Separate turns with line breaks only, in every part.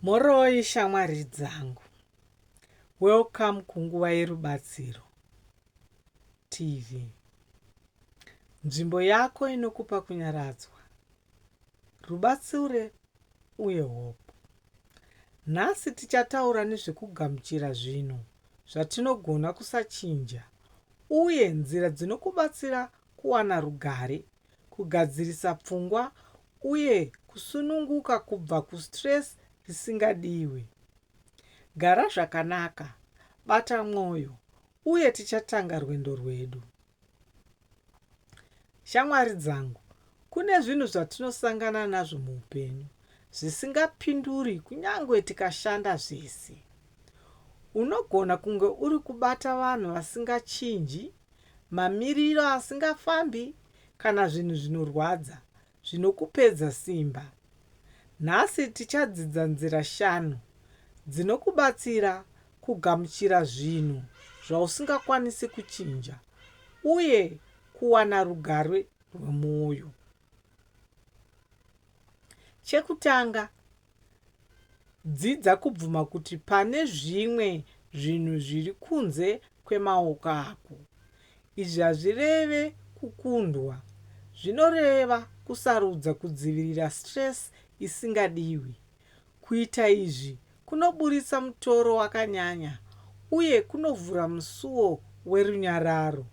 Mhoroi shamwari dzangu. Welcome kunguva yerubatsiro TV. Nzvimbo yako inokupa kunyaradzwa, rubatsure uye hope. Nhasi tichataura nezvekugamuchira zvinhu zvatinogona kusachinja uye nzira dzinokubatsira kuwana rugare kugadzirisa pfungwa uye kusununguka kubva kustress risingadiwe. Gara zvakanaka, bata mwoyo, uye tichatanga rwendo rwedu. Shamwari dzangu, kune zvinhu zvatinosangana nazvo muupenyu zvisingapinduri kunyange tikashanda zvese. Unogona kunge uri kubata vanhu vasingachinji mamiriro asingafambi kana zvinhu zvinorwadza zvinokupedza simba. Nhasi tichadzidza nzira shanu dzinokubatsira kugamuchira zvinhu zvausingakwanisi kuchinja uye kuwana rugare rwemwoyo. Chekutanga, Dzidza kubvuma kuti pane zvimwe zvinhu zviri kunze kwemaoko ako. Izvi hazvireve kukundwa. Zvinoreva kusarudza kudzivirira stress isingadiwi. Kuita izvi kunoburitsa mutoro wakanyanya uye kunovhura musuwo werunyararo.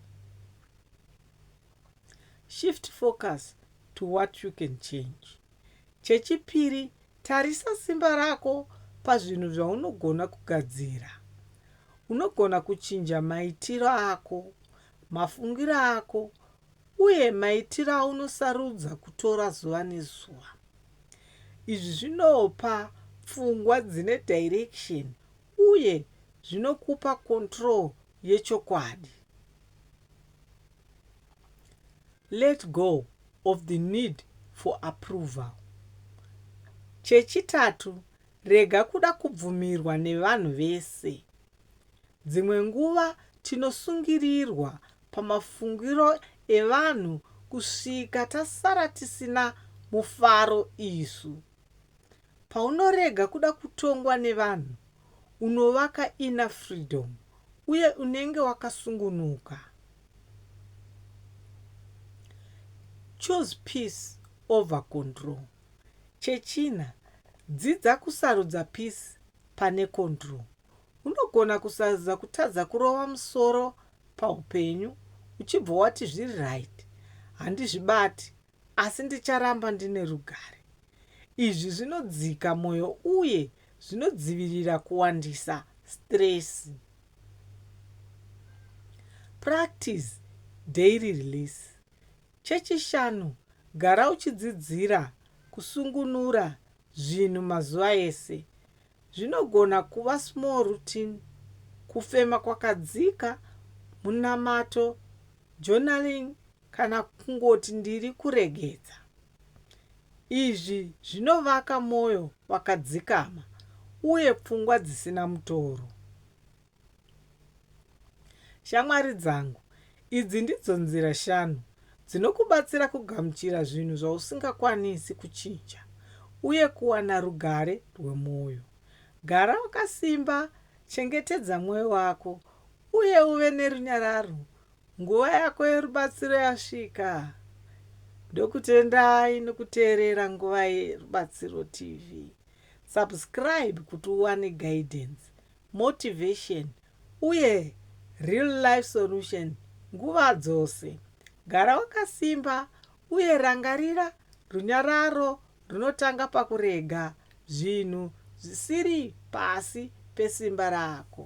Shift focus to what you can change. Chechipiri, tarisa simba rako pazvinhu zvaunogona kugadzira. Unogona kuchinja maitiro ako, mafungiro ako, uye maitiro aunosarudza kutora zuva nezuva. Izvi zvinopa pfungwa dzine direction uye zvinokupa control yechokwadi. let go of the need for approval. Chechitatu, rega kuda kubvumirwa nevanhu vese. Dzimwe nguva tinosungirirwa pamafungiro evanhu kusvika tasara tisina mufaro isu. Paunorega kuda kutongwa nevanhu, unovaka inner freedom uye unenge wakasungunuka. Choose peace over control. Chechina, dzidza kusarudza peace pane control. Unogona kusarudza kutadza kurova musoro paupenyu uchibva wati zviri right, handizvibati Asi ndicharamba ndine rugare. Izvi zvinodzika mwoyo uye zvinodzivirira kuwandisa sitiresi. Practice Daily Release. Chechishanu, gara uchidzidzira kusungunura zvinhu mazuva ese. Zvinogona kuva small routine, kufema kwakadzika, munamato, journaling Kana kungoti ndiri kuregedza. Izvi zvinovaka mwoyo wakadzikama uye pfungwa dzisina mutoro. Shamwari dzangu, idzi ndidzo nzira shanu dzinokubatsira kugamuchira zvinhu zvausingakwanisi kuchinja uye kuwana rugare rwemwoyo. Gara wakasimba, chengetedza mwoyo wako, uye uve nerunyararo Nguva yako yerubatsiro yasvika. Ndokutendai nokuteerera Nguva yeRubatsiro TV. Subscribe kuti uwane guidance, motivation uye real life solution nguva dzose. Gara wakasimba uye rangarira runyararo runotanga pakurega zvinhu zvisiri pasi pesimba rako.